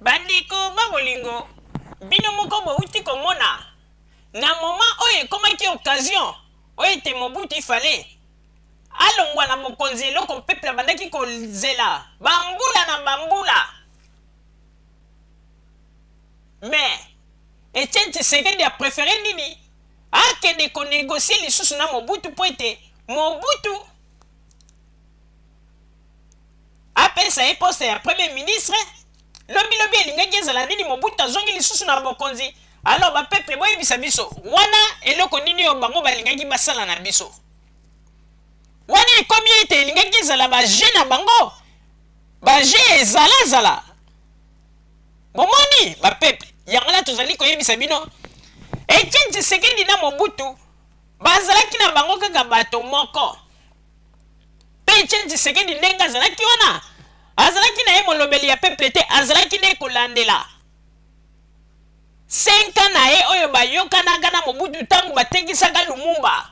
Bandeko ba bolingo, bino moko bowuti komona na moment oyo ekomaki occasion oyo ete Mobutu il fallait alongwa na bokonzi, eloko peuple abandaki kozela ba mbula na ba mbula mais Etienne Tshisekedi a prefere nini? Akende ko negocier lisusu na Mobutu mpo ete Mobutu Apesa ye poste ya premier ministre, lobi lobi elingaki ezala nini Mobutu azongi lisusu na bokonzi, alors ba peuple boyebisa biso wana eloko nini oyo bango balingaki basala na biso? Wana ekomi ete elingaki ezala ba jeux na bango, ba jeux ya ezala zala. Bomoni ba peuple, yango wana tozali koyebisa bino Etienne Tshisekedi na Mobutu bazalaki na bango kaka bato moko. Etienne Tshisekedi ndenge azalaki wana azalaki na ye molobeli ya peuple te azalaki nde kolandela 5 ans na ye oyo bayokanaka na Mobutu ntango batekisaka Lumumba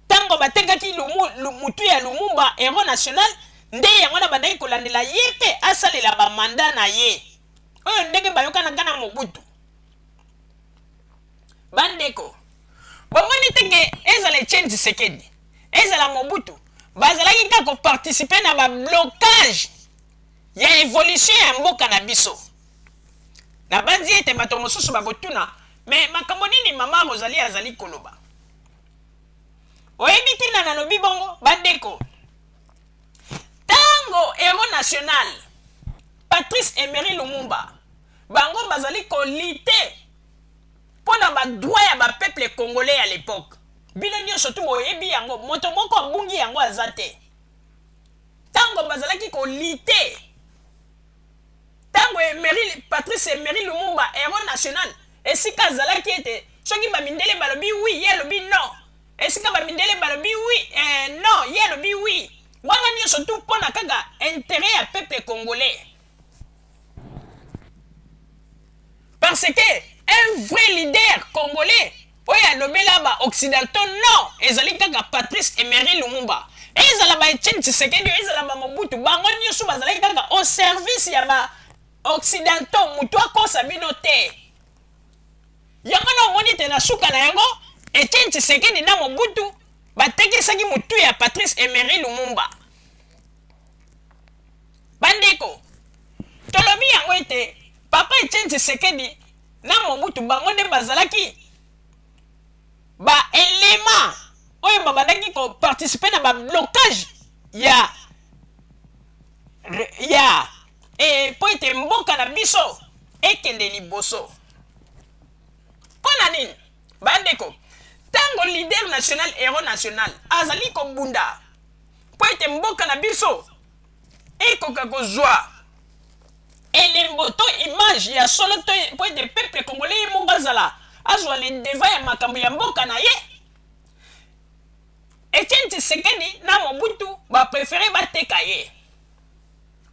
ntango batekaki lumu, mutu ya Lumumba hero national nde yango na bandaki kolandela ye mpe asalela bamanda na ye oyo ndenge bayokanaka na Mobutu Ba ndeko, bomoni te que ezala Etienne Tshisekedi, ezala Mobutu, bazalaki kaka ko participer na ba blocages ya evolution ya mboka na biso? Nabanzi ete bato mosusu bakotuna, Mais makambo nini mama Rosalie azali koloba? Oyebi ntina nalobi bongo? Ba ndeko, tango heros national Patrice Emery Lumumba, bango bazali ko lutter pona ba droit ya ba peuple congolais ya l'epoque bino nionso tout boyebi yango moto moko abungi yango aza te tango bazalaki ko lite tango emery patrice emery lumumba hero national esika azalaki ete soki ba mindele balobi wi ye alobi no esika ba mindele balobi wi eh, no ye alobi wi wana nionso tout pona kaka interet ya peuple congolais Parce que un vrai leader congolais oyo alobela ba occidentaux non ezali kaka Patrice Emery Lumumba ezala ba Etienne Tshisekedi ezala ba Mobutu bango nioso bazalaki kaka au service ya ba occidentaux mutu akosa bino te yango na omoni te na suka na yango Etienne Tshisekedi na Mobutu batekisaki mutu ya Patrice Emery Lumumba Bandeko, tolobi yango ete Papa Etienne Tshisekedi na Mobutu bango nde bazalaki ba elements oyo babandaki ko participer na ba blocage ya ya e, mpo ete mboka na biso ekende liboso. Mpo na nini bandeko, ntango leader national hero national azali kobunda mpo ete mboka na biso ekoka kozwa elembo to image ya solo to mpo ete peuple congolais ye moko azala azwa le devant ya makambo ya mboka na ye Etienne Tshisekedi na Mobutu ba préféré bateka ye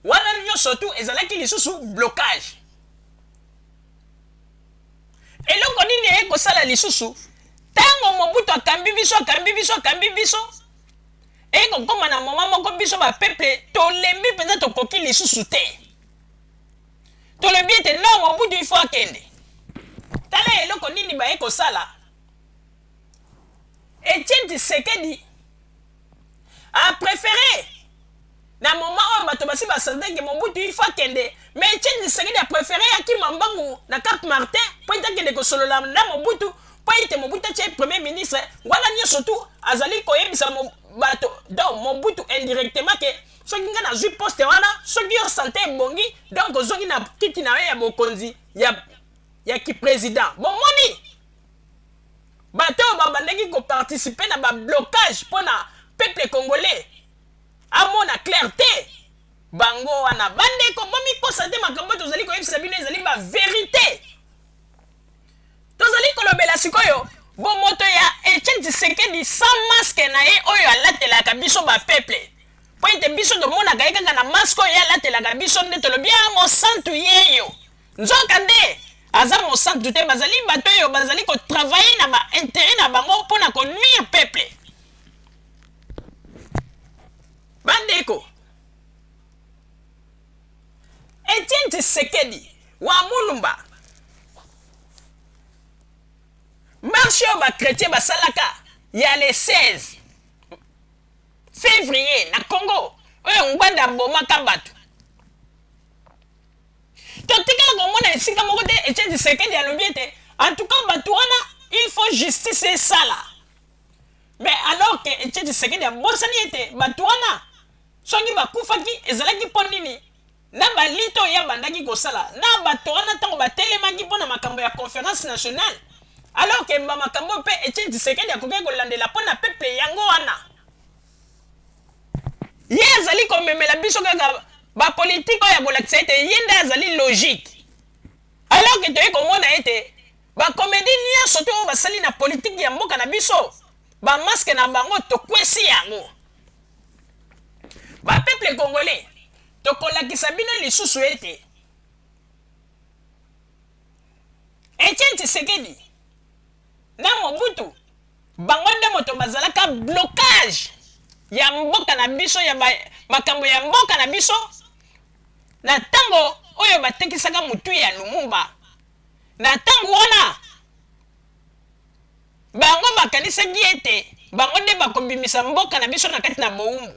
wana nyonso tu ezalaki lisusu blocage eloko nini eye kosala lisusu ntango mobutu akambi biso akambi biso akambi biso ekokoma na moma moko biso ba peuple tolembi mpenza tokoki lisusu te tolobi ete no mobutu ifo akende tala eloko nini baye kosala etienne tshisekedi a prefere na moment oyo bato basi ba sentir que Mobutu il faut akende mais Etienne Tshisekedi a prefere akima mbangu na Cap Martin mpo ete akende kosolola na Mobutu mpo ete Mobutu atia ye premier ministre wana nionso tout azali koyebisa bato donc Mobutu indirectement que soki ngai nazui poste wana soki yo sante ebongi donc ozongi na kiti na yo ya bokonzi ya, ya ki president bomoni bato oyo babandaki koparticipe na bablocage mpo na peuple congolais amona claire te bango wana ba ndeko bomikosa te makambo tozali koyebisa bino ezali ba verite tozali kolobela sikoyo bomoto ya Etienne Tshisekedi sans masque na ye oyo alatelaka biso ba peuple mpo ete biso tomonaka ye kaka na masque oyo ye alatelaka biso nde tolobi ya ah, mosantu yeyo nzoka nde aza mosantu te bazali bato oyo bazali kotravaille na bainteret na bango mpo na konuire peuple Bandeko, Etienne Tshisekedi wa Mulumba, marche oyo ba chretiens basalaka ya le 16 fevrier na Congo oyo Ngbanda abomaka bato totikala komona esika moko te Etienne Tshisekedi alobi ete en tout cas bato wana il faut justice esala Mais alors que Etienne Tshisekedi abosani ete batu wana soki bakufaki ezalaki mpo nini? Na ba lutte oyo ye abandaki kosala na bato wana tango batelemaki mpo na makambo ya conference nationale alors que ba makambo oyo mpe Etienne Tshisekedi akokaki kolandela mpo na peuple yango wana ye azali komemela biso kaka ba politique oyo ya kolakisa ete ye nde azali logique alors que toye komona ete Ba comedie nionso te oyo basali na politique ya mboka na biso ba masque na bango tokwesi yango ba peuple congolais tokolakisa bino lisusu ete Etienne Tshisekedi na Mobutu bango nde moto bazalaka blocage ya mboka na biso ya makambo ya mboka na biso na ntango oyo batekisaka motu ya Lumumba Na ntango wana, bango bakanisaki ete bango nde bakobimisa mboka na biso na kati na bowumbu.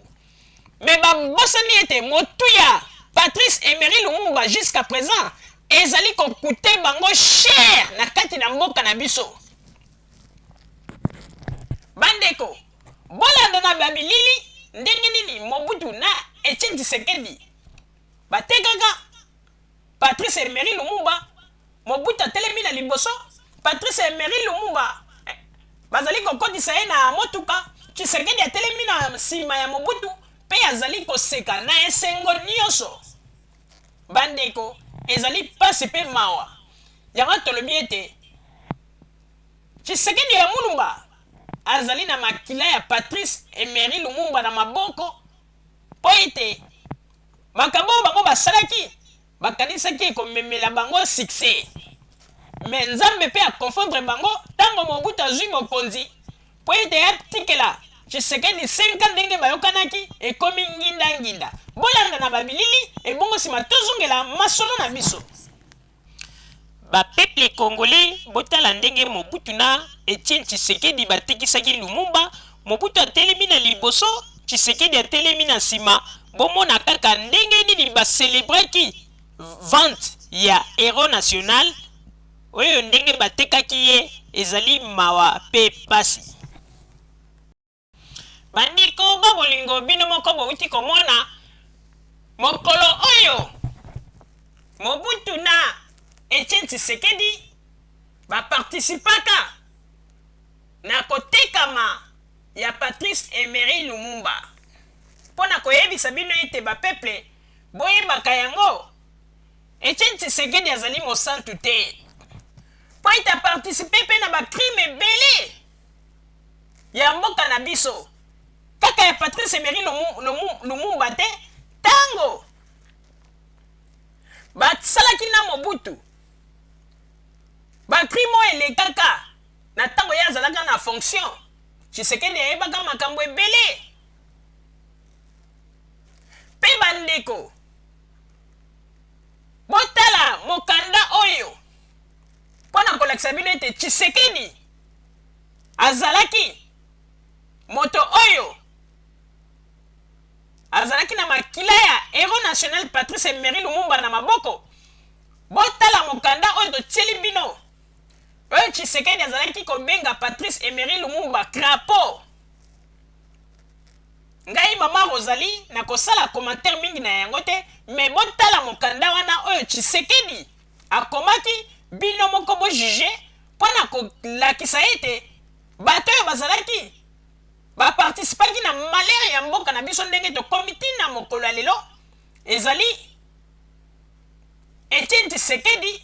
Mais babosani ete motuya Patrice Emery Lumumba jusqu'à present ezali ko couter bango cher na kati na mboka na biso. Bandeko, bolanda na ba bilili ndenge nini Mobutu na Etienne Tshisekedi batekaka Patrice Emery Lumumba, Mobutu atelemi na liboso, Patrice Emery Lumumba eh, bazali kokotisa ye na motuka, Tshisekedi atelemi na nsima ya Mobutu mpe azali koseka na esengo nyonso. Bandeko, ezali mpasi mpe mawa. Yango tolobi ete Tshisekedi ya Mulumba azali na makila ya Patrice Emery Lumumba na maboko Mpo ete makambo oyo bango basalaki, bakanisaki ekomemela bango succès. Mais Nzambe mpe a confondre bango tango Mobutu azui bokonzi mpo ete atikela Tshisekedi 5 ans ndenge bayokanaki, ekomi nginda nginda. Bolanda na ba bilili ebongo sima tozongela masolo na biso. Ba peuples congolais botala ndenge Mobutu na Etienne Tshisekedi batekisaki Lumumba, Mobutu atelemi na liboso, Tshisekedi atelemi na sima, bomona kaka ndenge nini ba celebraki vente ya Heros National oyo ndenge batekaki ye ezali mawa pe pasi. Bandeko ba bolingo, bino moko bouti komona mokolo oyo Mobutu na Etienne Tshisekedi ba participaka na kotekama ya Patrice Emery Lumumba. Mpo na koyebisa bino ete ba peuple boyebaka yango, Etienne Tshisekedi azali mosantu te mpo ete a participer mpe na ba crimes ebele ya mboka na biso kaka ya patrice emery lumumba te ntango basalaki na mobutu bacrime oyo elekaka na ntango ye azalaka na fonction tshisekedi ayebaka makambo ebele mpe bandeko botala mokanda oyo mpo na kolakisa bino ete tshisekedi azalaki moto oyo azalaki na makila ya hero national patrice emery lumumba na maboko botala mokanda oyo totieli bino oyo tshisekedi azalaki kobenga patrice emery lumumba crapo ngai mama rosalie nakosala commentaire mingi na yango te me botala mokanda wana oyo tshisekedi Akomaki, Bino moko bo juger, mpo na kolakisa ete bato oyo bazalaki, ba participaki na malheur ya mboka na biso ndenge tokomi ti na mokolo ya lelo, ezali Etienne Tshisekedi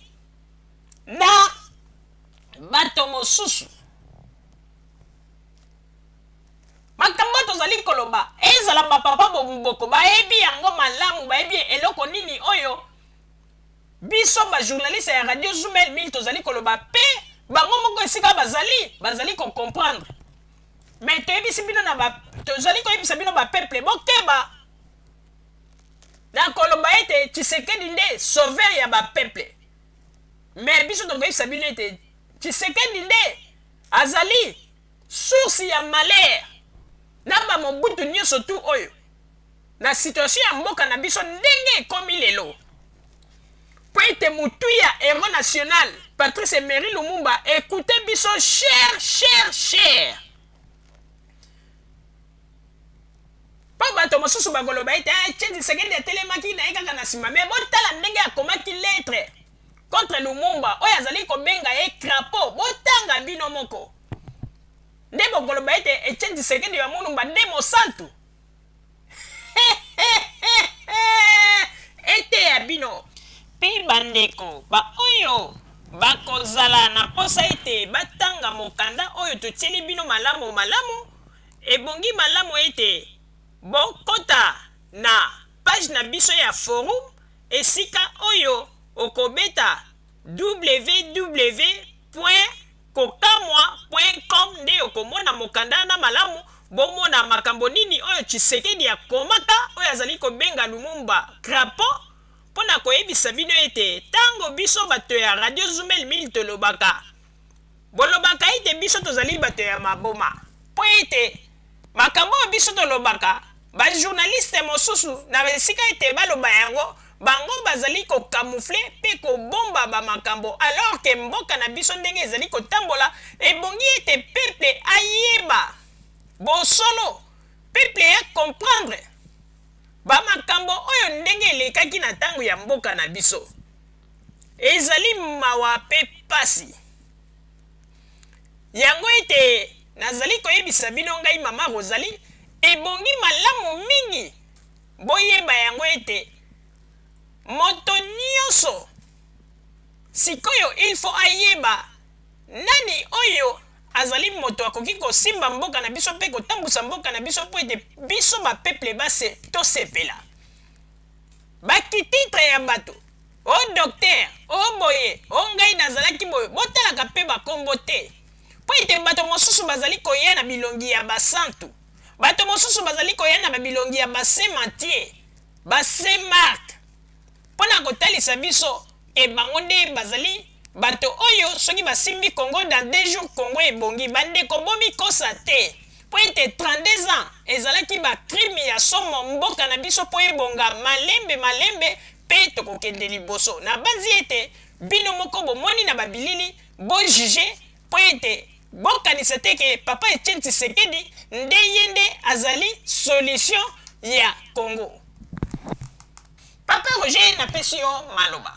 na bato mosusu. Makambo oyo tozali koloba, ezala ba papa boko bayebi yango malamu, bayebi eloko nini oyo Biso ba journaliste ya radio zumel mingi tozali koloba pe bango moko esika bazali bazali ko comprendre mais toyebisi bino na ba tozali koyebisa bino ba peuple bokeba na koloba ete tshisekedi nde sauveur ya ba peuple mais biso tokoyebisa bino ete tshisekedi nde azali source ya malheur na ba mobutu nyonso tu oyo na situation ya mboka na biso ndenge ekomi lelo po ete motuya hero national Patrice Emery Lumumba ekoute biso cher cher cher po bato mosusu bakoloba ete eh, Etienne Tshisekedi atelemaki na ye kaka na nsima me botala ndenge akomaki lettre contre Lumumba oyo azali kobenga ye crapaud botanga bino moko nde bokoloba ete Etienne Tshisekedi ya Mulumba nde mosantu Eteya bino mpe bandeko baoyo bakozala na mposa ete batanga mokanda oyo totyeli bino malamumalamu. Ebongi malamu ete bokota na page na biso ya forum, esika oyo okobeta www. Kokamwa point com nde okomona mokanda na malamu bomona makambo nini oyo Tshisekedi akomaka oyo azali kobenga Lumumba crapaud mpo na koyebisa bino ete tango biso bato ya radio zumel mil tolobaka bolobaka ete biso tozali bato ya maboma mpo ete Makambo oyo biso tolobaka, ba journalistes mosusu, na esika ete baloba yango, bango bazali ko camoufler mpe kobomba ba makambo, alors que mboka na biso ndenge ezali kotambola, ebongi ete peuple ayeba bosolo, peuple a comprendre ba makambo oyo ndenge elekaki na tango ya mboka na biso. Ezali mawa mpe pasi. Yango ete nazali koyebisa bino, ngai Mama Rosalie, ebongi malamu mingi boyeba yango ete moto nyonso sikoyo il faut ayeba nani oyo azali moto akoki kosimba mboka na biso mpe kotambusa mboka na biso mpo ete biso ba peuples tosepela. Ba kititre ya bato O docteur, o boye, o ngai nazalaki boye, botalaka pe bakombo te. Po ete bato mosusu bazali koya na bilongi ya basantu, bato mosusu bazali koya na babilongi ya ba-Saint Matthieu, ba-Saint Marc, po na kotalisa biso te bango nde bazali bato oyo soki basimbi Congo dans deux jours Congo ebongi. Bandeko bomikosa te, po ete 32 ans ezalaki ba-crime ya somo mboka na biso po ebonga malembe malembe, Pe tokokende liboso. Nabanzi ete bino moko bomoni na babilili, bo juger, mpo ete bokanisa te ke Papa Etienne Tshisekedi nde ye nde azali solution ya Congo. Papa Roger napesi yo maloba.